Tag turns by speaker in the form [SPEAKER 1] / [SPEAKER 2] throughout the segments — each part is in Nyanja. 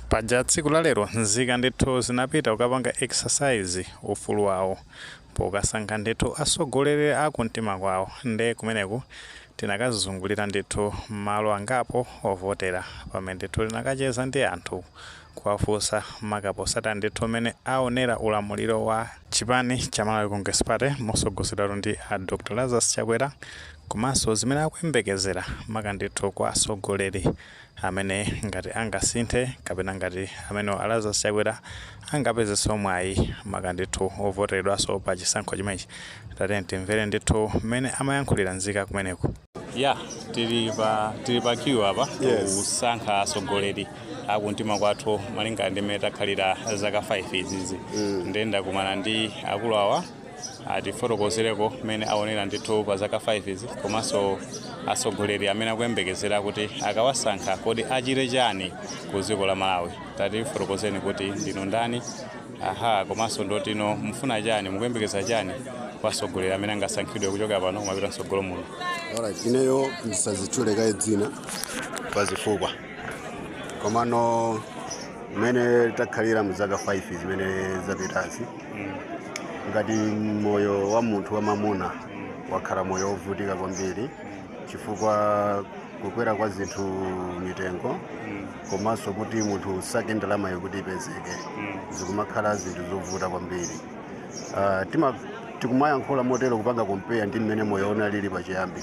[SPEAKER 1] paja tsiku lalero nzika ndithu zinapita kukapanga exercise ufulu wawo pokasankha ndithu atsogoleri a kumtima kwawo nde kumeneku tinakazungulira ndithu mmalo angapo ovotera pamene ndithu tinakacheza ndi anthu kuwafunsa maka potsata ndithu mmene aonera ulamuliro wa chipani cha malawi congress party motsogozedwatu ndi a dr lazarus chakwera komanso zimene akuyembekezera maka ndithu kwa atsogoleri amene ngati angasinthe kapena ngati amenewo a Lazarus Chakwera angapezenso mwayi maka ndithu wovoteredwanso pa chisankho chimenechi. Tatiyeni timvere ndithu mmene amayankhulira nzika kumeneko. Ya, tili pa tili pa queue apa Yes. kusankha atsogoleri akumtima kwathu malingana ndi mmene takhalira zaka 5 izizi. Ndiye ndakumana ndi akulu awa atifotokozereko mmene aonera ndithu pa zaka 5 izi komanso atsogoleri amene akuyembekezera kuti akawasankha kodi achite chani ku dziko la malawi tatifotokozeni kuti ndinu ndani aha komanso ndotino mukufuna chani mukuyembekeza chani kwa atsogoleri amene angasankhidwe kuchokera pano kumapita mtsogolo muno Alright, ineyo
[SPEAKER 2] ndisadzitchule kaye dzina pazifukwa komano mmene takhalira mu zaka 5 zimene zapitazi ngati moyo wa munthu wamamuna wakhala moyo wovutika kwambiri chifukwa kukwera kwa zinthu mitengo komanso kuti munthu usake ndalamayo kuti ipezeke zikumakhala zinthu zovuta kwambiri Ah, tima- tikumayankhula motero kupanga compare ndi mmene moyo unalili pachiyambi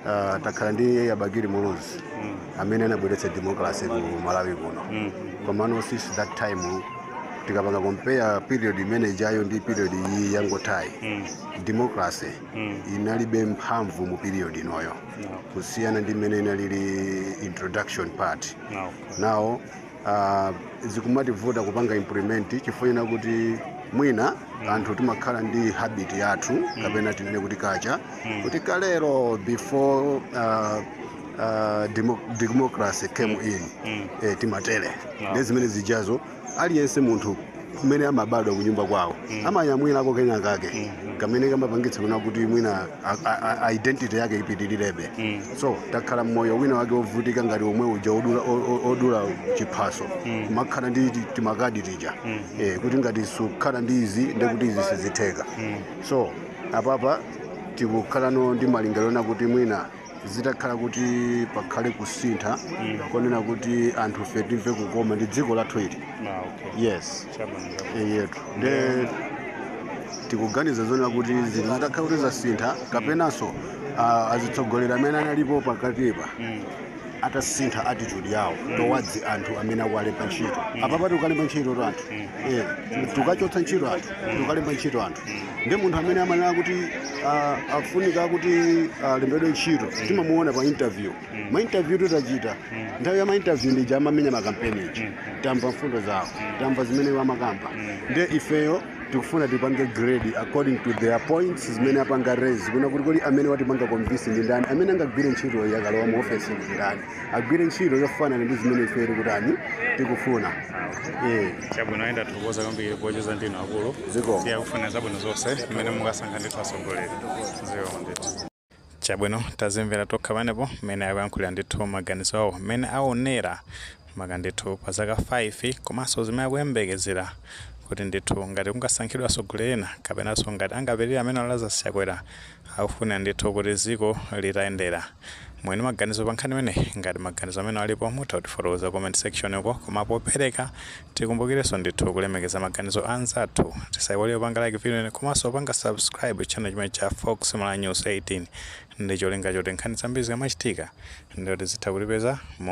[SPEAKER 2] Uh, takhala ndi a bakili muluzi mm. amene anabweretsa democracy ku malawi kuno mm. komano since that time tikapanga compare period imene ijayo ndi period iyi yangothayi mm. democracy mm. inalibe mphamvu mu period inoyo no. kusiyana ndi mmene inalili introduction part no. now uh, zikumativuta kupanga implement chifukwa chonena kuti mwina anthu timakhala ndi habit yathu mm. kapena tinene kuti culture mm. kuti kalero before uh, uh, demo, democracy came mm. in mm. eh, timatere ah. nde zimene zijazo aliyense munthu kumene amabadwa kunyumba kwawo amanyamwirako kena kake kamene kamapangitsa kunena kuti mwina a- a- a- identity yake ipitilirebe so takhala mmoyo wina wake wovutika ngati omwe uja odula- o- o- odula chiphaso kumakhala ndi ti- timakadi tija Eh, kuti ngati sukhala ndi izi nde kuti izi sizitheka so apapa tikukhalano ndi malingaliro onena kuti mwina zitakhala kuti pakhale kusintha konena kuti anthu fe timve kukoma ndi dziko lathu ili Ah, okay. yes Chabwino, chabwino. yetu nde tikuganiza zonena kuti zinthu zitakhala kuti zasintha kapenanso ah, azitsogoleri amene analipo pakatipa atasintha attitude yawo towards anthu amene akuwalemba ntchito apapa tikukalemba ntchito anthu Eh, tikukachotsa ntchito anthu tikukalemba ntchito anthu ndi munthu amene amanena kuti ah, afunika kuti alembedwe ntchito timamuona pa interview ma interview tidachita nthawi ya ma interview ndi ija amamenya makampeni ija tamva mfundo zawo tamva zimene iwo amakamba nde ifeyo tikufuna tipange grade according to their points zimene apanga raise kunena kuti kodi amene watipanga convince ndi ndani amene angagwire ntchito akalowa mu office ndi ndani agwire ntchito yofanana ndi zimene ife tikutani tikufuna
[SPEAKER 1] Eh. chabwino ayi nde tikuthokoza kwambiri pocheza ndi inu akulu Zikomo. tikufuna zabwino zonse mmene mukasankha ndithu atsogoleri zikomo ndithu chabwino tazimvera tokha panepo mmene akuyankhulira ndithu maganizo awo mmene aonera maka ndithu pa zaka 5 komanso zimene akuyembekezera kuti ndithu ngati kungasankhidwe atsogoleri ena kapenanso ngati angapitirire amene a Lazarus Chakwera Akufuna ndithu kuti dziko litayenda mwina maganizo pa nkhani imeneyi ngati maganizo amenewo alipo mutha kutifotokozera ku comment section uko koma popereka tikumbukirenso ndithu kulemekeza maganizo a anzathu tisaiwale kupanga like video ino komanso kupanga subscribe channel chimenechi cha Fox Malawi News 18 ndi cholinga choti nkhani zambiri zikamachitika ndiye kuti zizitha kutipeza mo